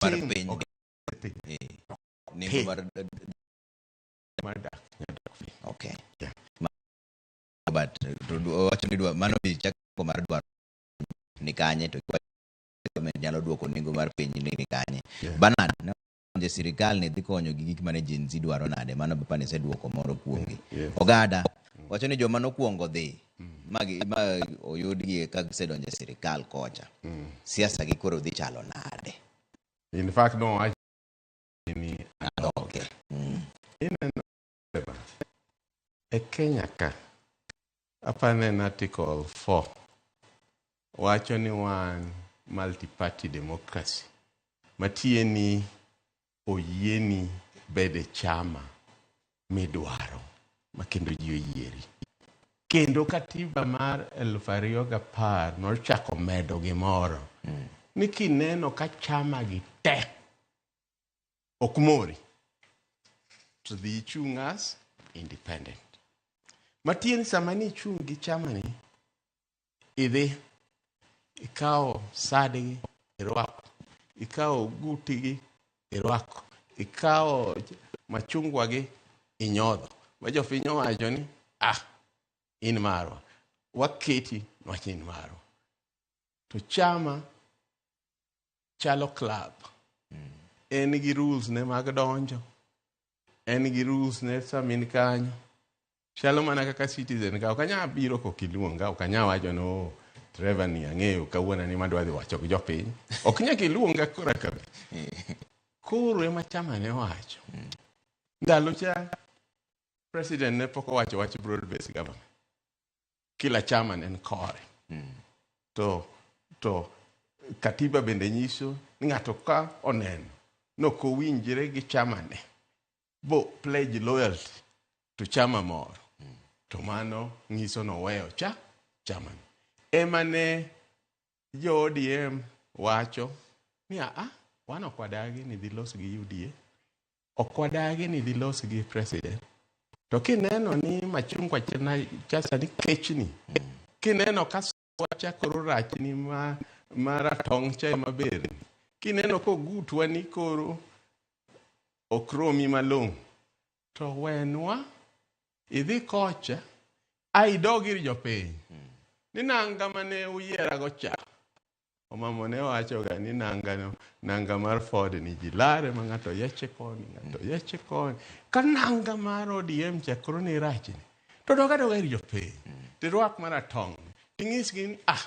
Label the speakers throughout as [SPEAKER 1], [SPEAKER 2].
[SPEAKER 1] mar piny eh, nengo mar okay yeah. but wacho ni dwa mano bi chako mar dwaro ni kanye to nyalo duoko nengo mar piny ni kanye yeah. Bernard no je sirikal ni dhi konyo gi gik mane Gen Z dwaro nade mano bapani seduoko moro kuomgi yeah. Ogada mm. wacho ni joma nokuongo dhi magi ma oyudgi ka gisedonjo e sirikal kocha siasa gi koro dhi chalo nade In fact,
[SPEAKER 2] no, I ni
[SPEAKER 1] okay. ineno
[SPEAKER 2] beba. E Kenya ka, apane na article 4 wacho ni wan multi-party democracy. Matiye ni oyieni bed e chama midwaro ma kendo ji oyieri. Kendo katiba mar elfu ariyo gapar nochako medo gimoro ni kineno ka chama gi te ok mori to dhi ichung' as independent. Matieni sama nichung' gi chama ni Idhi, ikawo sadgi, irwako. Ikawo ogutigi, irwako. Ikawo machungwagi, inyodho. Ma jopiny owacho ni, ah, in marwa. Waketi niwach ni in marwa. To chama chalo club. En gi rules ne mag donjo. En gi rules ne sama in kanyo. Chalo mana kaka citizen ka ok anya biro kok iluonga, ok anya wacho ni oh, driver ni ang'eyo kawuono ni madwa dhi wacho gi jopiny. Ok nyaka iluonga kora ka bi. Koro ema chama ne wacho. Ndalo cha president ne pok owacho wach broad based government. Kila chama ne en kore. To to katiba bende nyiso ni ng'ato ka oneno ni ok owinjre gi chamane bo pledge loyalty to chama moro to mano nyiso noweyo cha chamani ema ne jo odm wacho ni aa wan ok wadagi ni dhi los gi uda ok wadagi ni dhi los gi president to kineno ni machungwa chena- chasani kechni kineno ka wacha koro rachni ma, ma ratong' cha ema berni kineno kogutwa ni koro ok romi malong'o to wenwa idhi kocha a idog ir jopiny ni nanga mane uyierago cha Omamo ne wachoga ni nanga no, nanga mar Ford ni ji lare ma ng'ato yeche koni, ng'ato yeche koni. Ka nanga mar ODM cha koro ni rach ni. To doga doga ir jopiny. To irwak mana tong'. Inyisgi ni ah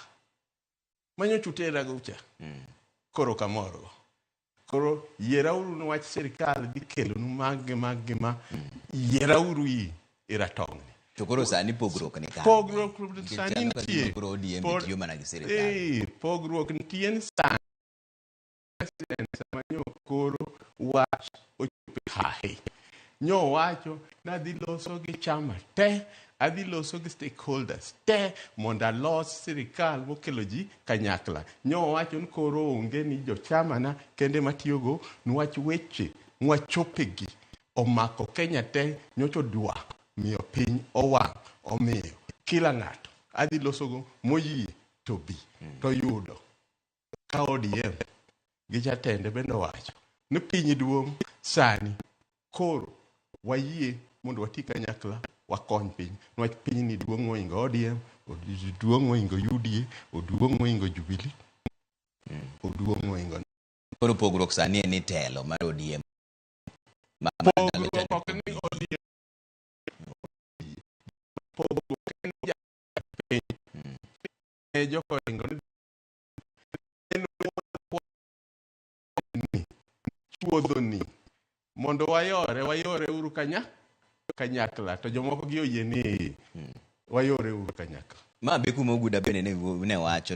[SPEAKER 2] manyo chutera go cha. Koro kamoro. Koro yierauru ni wach sirkal dhi kelonu mag gi mag gi ma yierauru i i ratong'ni. To koro sani
[SPEAKER 1] pogruok ni kanye? Pogruok Nikech sani aneno ka
[SPEAKER 2] nitie. gima koro ODM Pod- tiyo mana gi sirkal. Eh, pogruok nitie ni sani president sama nyo koro wach ochopo e hahe. nyowacho ni adhi loso gi chama te adhi loso gi stakeholders te mondo alos sirikal mokelo ji kanyakla nyowacho ni koro onge ni jochamana kende matiyogo nwach weche nwachopegi omako kenya te nyocho dwa miyo piny owang' omiyo kila ng'ato adhi losogo moyie to bi to yudo ka ODM gi jatende bende owacho ni piny duong' sani koro wayie mondo wati kanyakla wakony piny niwach piny ni duong' moingo ODM, od- duong' moingo UDA, oduong' moingo Jubilee, oduong' moingo Koro pogruok
[SPEAKER 1] sani en ni telo mar ODM ma ma ndalo cha pogruok
[SPEAKER 2] ok ni ODM pogruok en ni jatend piny e jokoringo ni en ni chuodho ni mondo wayore wayore uru kanya kanyakla to jomoko gi oyie ni wayore
[SPEAKER 1] uru
[SPEAKER 2] kanyakla Ma
[SPEAKER 1] be kuma
[SPEAKER 2] Oguda
[SPEAKER 1] bende
[SPEAKER 2] ne
[SPEAKER 1] ne
[SPEAKER 2] wacho